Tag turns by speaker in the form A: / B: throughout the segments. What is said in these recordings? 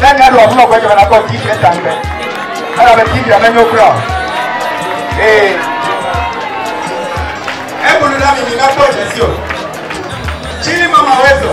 A: Nana ɖo ɔmlɔ gbɛdɔ na kɔ ti fɛ tan bɛ. Ala bɛ ti fɛ mɛ nyɔ kura. Ee. Ebulu la mi mi na kpɔ jesi o. Chini mama wɛ zɔ.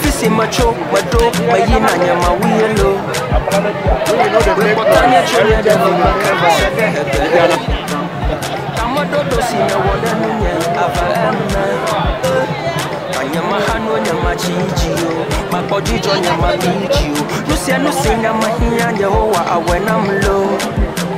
A: Fisi metso meɖo meyina nye mawu ye lo. Wekpɔtɔ nye tso nye ɖe me meke va se ɖe egbe. Tameɖoɖo si nèwɔ ɖe nunye ava eme. Ka nye maxano nye matsi dzi o. Makpɔ dzidzɔ nye mabi dzi o. Nusia nusi nye mehiã Yehowa awɔe nam lo.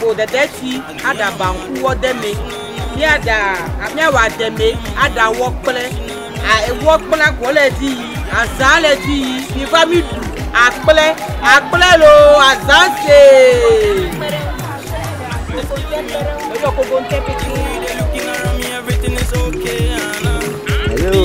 A: Ƒo dedeti aɖa banku wɔ de me. Míaɖa míawa de me aɖa wɔ kple a ewɔ kple akɔ le di yi azã le di yi mi va mi ɖu akple akple lo azã se. Lórí ọkọ̀ gbogbo ń tẹ́ pété. Hello.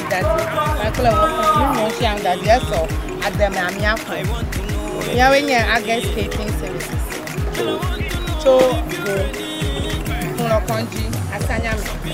A: Dadi kpakple wò fã nu nyɔ sia nu dadi esɔ ade me amia ƒo. Miawoe nye Agest Catering Services tso go Xulɔ kɔndzi asanya me.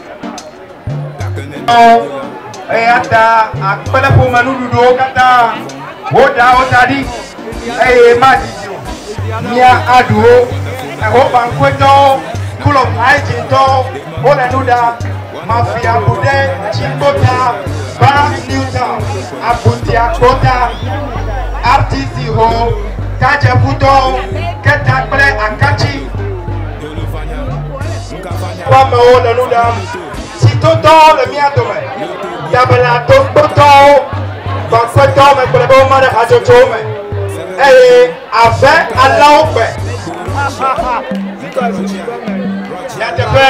A: Eyata akpe ɖe ƒome nuɖuɖuwo katã, woɖa wo da ɖi eye madidi o. Mía aɖu wo. Ehobaŋkɔetɔwo, Kulob Aidjintɔwo, wole nu ɖa. Mafia Bude, Tsikota, Barracks New Town, Abuntiakpota, RTC ho, Tadjeƒutɔwo, Keta kple Akatsi. Amewo le nu ɖam. Sitotɔwo le mía dome. Dabela togbotɔwo, gbɔnfetɔwo me kplɔe be woma ɖe hatsotsowo me. Eye ave alẽwo gbe. Nyateƒe.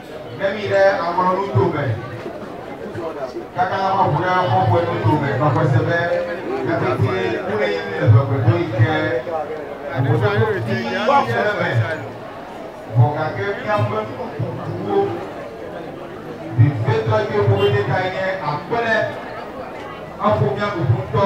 A: Ne mi ɖe aŋlɔ nu to me, kaka la mabu ɖe xɔxɔe nu to me, nɔ xɔse be eƒetie kple yi le ʋegbedo yi ke ʋuƒododo vi ɖe le eme. Vɔ gake miaƒe nu kukuwo vevitɔ yi ke ƒoƒede kae nye akpe ɖe? Aƒo mia kuku ŋutɔ.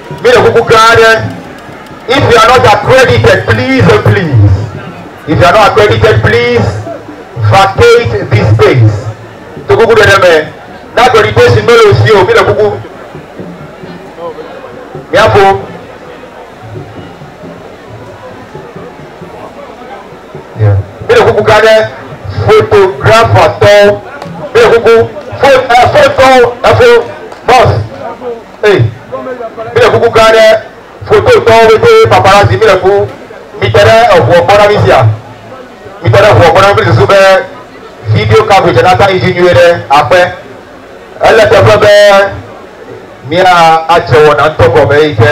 A: Mi le kuku gã aɖe. If you are not accredited, please and please, if you are not accredited, please vacate this space. To kuku ɖe ɖe me. Na accreditation mele o si o. Mi le kuku. Miafo. Yeah. Mi le kuku gã aɖe. Photographer tɔ. Mi le kuku. Fo, eh, fo tɔ, efo, boss. Hey, mi le kuku gã ɖe foto tɔwo bete paparazzi mi le ku mi te ɖe eʋua gbɔ na mi sia mi te ɖe eʋua gbɔ na mi susu be video coverage na ta yi dzi nyuie ɖe aƒe ele teƒe be mia adze wɔna ŋutɔ gɔme yi ke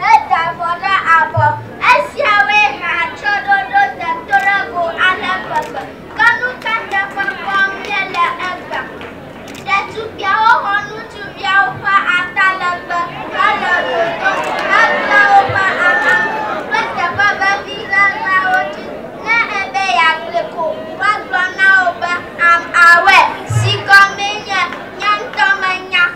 A: Heda avɔ ɖe abɔ. Esiawoe he atsyɔ̃ɖoɖo tetrego ale gbegbe. Ke nu ka teƒe kpɔm míele egbea? Ɖetugbiawo xɔ ŋutsuviawo ƒe atalegbe hele ɖoɖo hekpla woƒe ahanuwo kple teƒe vevi ʋeʋẽawo dzi. Ne ebe yeagblɔe ko, woagblɔ na wò be, Am, àwɔe, si gɔmee nye, Nye ŋutɔ menya.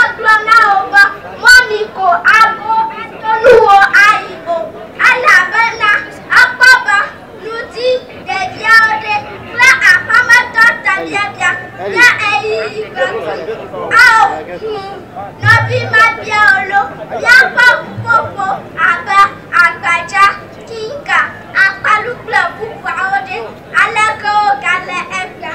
A: Agblɔ na wo be, Mɔmi ko ago ato nuwo ayi o, elabena ekpɔ be nu dzi ɖeɖiawo ɖi kple aƒemetɔ tebiabia kple ɣeyiɣi ƒe ku. Ao, ŋu nɔvi mabiawo lo, míakpɔ ƒuƒoƒo abe agbadza, kinka, akpalu kple bubuawo ɖe, aleke wogale egbea?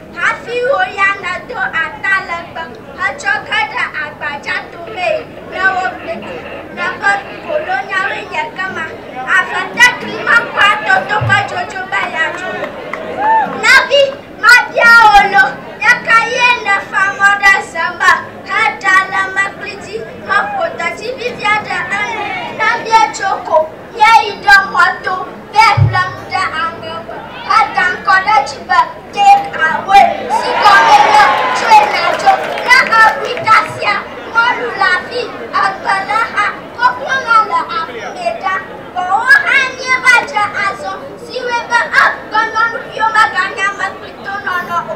A: Hafi wò ya nàdo atalegbe hetsɔ ge ɖe agbadza tomee ne wobli du. Nya ƒe kolonyawoe nye kema, Ave te klima kpɔa toto ƒe dzodzo be yeadzo. Nɔvi, mabia wò lo, Ɣeka ɣie nèfa mɔ ɖe ze me heɖa le mekli dzi heƒo detsi vivia ɖe enu? Nɔvie, tso ko. Ye yi ɖe xɔ to be yeƒle nu ɖe amewo me heda ŋkɔ ɖe edzi be Take Away, si gɔmee nye Tsoe Nàdzo. Ne èʋui kasia mɔlu le afi egbelexa koklonɔ le aƒumee ɖa, vɔ̃wo hã anie va dze azɔ, si wɔe be egbenɔnuviwo meganye ame kpli tonɔnɔ o.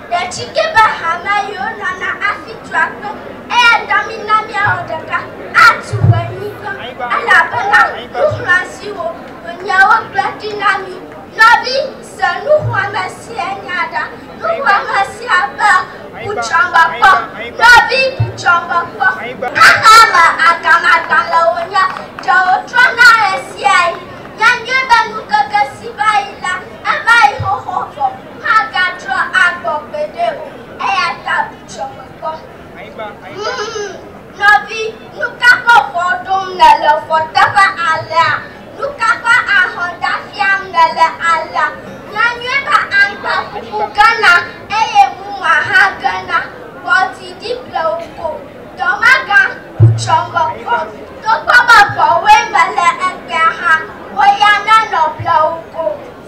A: Ɖeɖike be hamea yiwo nɔna afi tu akpe, eya ta mina míawɔ ɖeka atu ʋu anyigba, elabena nuxlɔ̃a siwo wònye wogblɔ ɖi na mí. Nɔvi, se nuxlɔ̃ame sia nya ɖa. Nuxlɔ̃ame sia be, Bu tsrɔ̃ me kpɔ. Nɔvi, bu tsrɔ̃ me kpɔ. Xexea me agamagbalẽwo nye ɖewo trɔna ɣesiaɣi. Nya nyuie be ŋkeke si va yi la, eva yi xoxo vɔ. Magatrɔ agbɔ gbeɖe o, eya ta bu tsɔme kpɔ. Nɔvi, nu ka ƒe vɔ̃ ɖom nèle vɔ teƒe alea? Nu ka ƒe ahɔnda fiam nèle alea? Nya nyuie be aŋgba ƒuƒu gena eye muma hã gena. Kpɔ didi ble wò ko. Dɔmegã, bu tsɔme kpɔ. Togbɔ be vɔ̃woe mele egbea hã, wò ya nanɔ ble wò ko.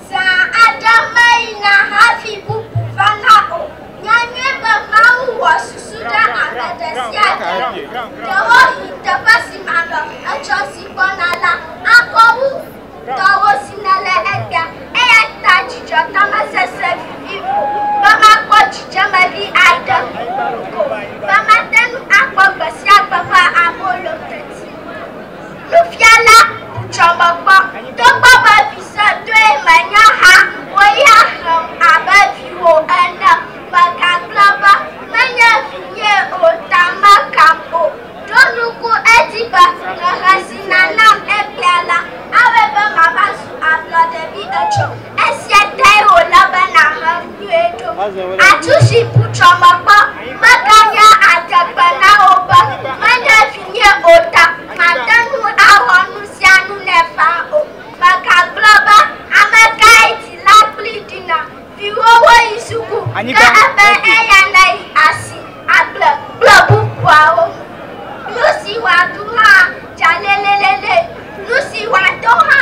A: Zã aɖe meyina hafi bubu va la o. Nya nyuie be Mawu wɔ susu ɖe ame ɖe sia ɖe ŋu. Ɖewohĩ teƒe si me ame etsɔ si gbɔna la akɔ wu tɔwò si nèle egbea. Eya ta dzidzɔtɔ mesese vivi o be makpɔ dzidzemeɣi aɖe ko be mate ŋu akpɔ gbe sia gbe ƒe abolo teti. Nufiala, dzɔ mekpɔ, togbɔ be vi sɔtɔe menye hã, wò ya xlẽm abe viwò ene. Mègagblɔ be, Menye vinyee o, ta mekam o. Ɖo ŋku edzi be hehe si nànam egbea la, awɔe be mava zu ablɔɖevi etsɔ. Esia tae wòle be nàhem. Atu si bu trɔmekpɔ meganya adegbe na wò be menye vinye o ta mate ŋu awɔ nu sia nu nɛ faa o. Megagblɔ be, Amekae dzila kpli ɖina? Viwòwo yi suku, ke ebe eya neyi asi, agble kple bubuawo. Nu si wòaɖu hã dza lélélélé, nu si wòado hã.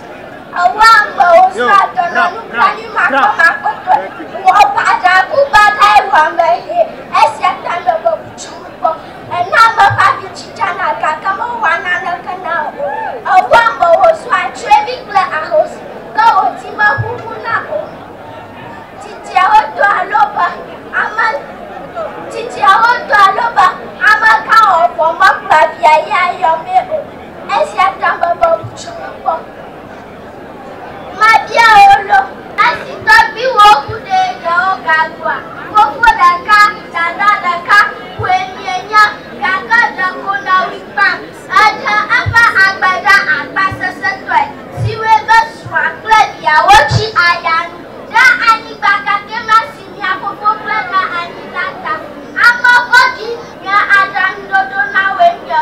A: Ewu amewo srã dɔnɔ nublanuimakpɔmakpɔtɔe. Wɔ baɖaku baɖa ewu ame ʋee. Esia ta nèwɔ butsuŋu kpɔ. Èna ame ƒe abi dzidzana gake mewɔa naneke na o. Èwu amewo sua tsyɔ̃evi kple ahosi ke wò dzi meʋuʋuna o. Tsitsiawo dɔa lo be ame tsitsiawo dɔa lo be amegã ɔvɔ mekplɔa via yia yɔmee o. Esia ta meva wu dzi me kpɔ. Mabia wo ɖo. Esi tɔgbuiwo ku ɖe yewo ga gbɔa, fofo ɖeka, dada ɖeka koe mienya, gake ɖeko nɔwui gbã. Eɖe eƒe agbe ɖa agbasesẽtɔe, si wɔe be srɔ̃a kple viawo tsi aya nu ɖe anyigba kakɛ ma si mia fofo ƒle ɖe anyi la ta. Ame vɔ̃ɖi nye aɖaŋuɖoɖo na woe nye.